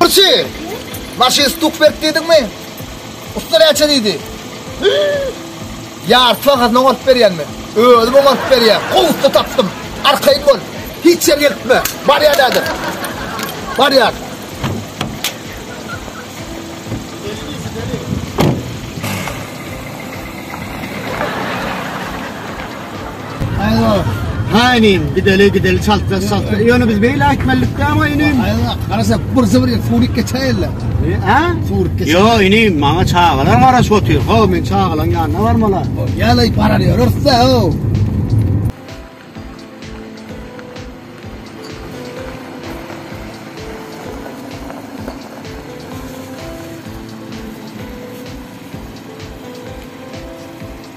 Burçi! Maşyn stuk berip dedik mi? Usta näçe diýdi? Ýarty bahasyna oňaryp berýän men. Özüm oňaryp berýän. Gowy usta tapdym. Arkaýyn bol. Hiç ýer ýertme. Barýan adam. Barýan. Aýwa. Ha inim, gideli, gideli, çaltlas, çaltlas. Ýöne biz beýle aýtmalydyk däl-ä inim. Aýwa, garasa bir zybr ýer, suwuryp geçäýerler. Hä? Suwuryp geçer. Ýo, inim, maňa çagalar garaşyp otyr. Haw, men çagalaň ýanyna barmaly. Ýaly barar ýörüs-dä, haw.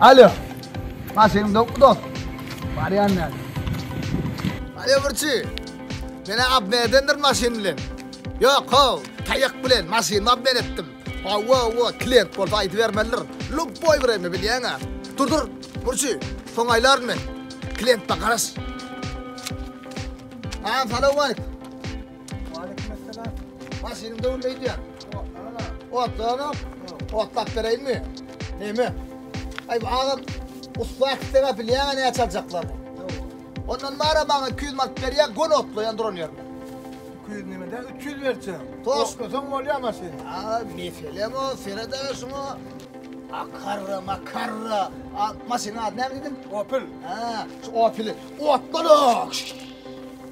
Alo. Maşynyň dokmy dost? Barýan näme? Alo Burçy. Mene abne edendir maşyn bilen. Ýok, ho, taýak bilen maşyny abne etdim. Wa wa wa, klient bolsa aýdy bermelidir. Lup boý bireme bilýäňä. Dur dur, Burçy, soň aýlaryn men. Klientde garaş. Salam, salam aýt. Waleykümesselam. Maşynyň döwünde öýdýän. Otlaga, otlap bereýinmi? Näme? Aý, agam, ussat istegä bilýäň-ä näçe aljaklar? Ondan bar-a maňa 200 manat berýär, gün otlaýan duran ýerinde. 200 nämede? 300 berçem. Toslasaň bolýa maşyny. A, meselem o, sered-ä şuňa. Akarra, makarra. A, maşynyň ady näme diýdiň? Opel. Hä, şu Opel-i otla-da!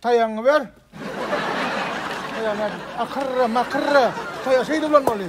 Taýagyňy ber. Taýagyňy akyrra, makyrra. Taýagy şeýdip ulanmaly.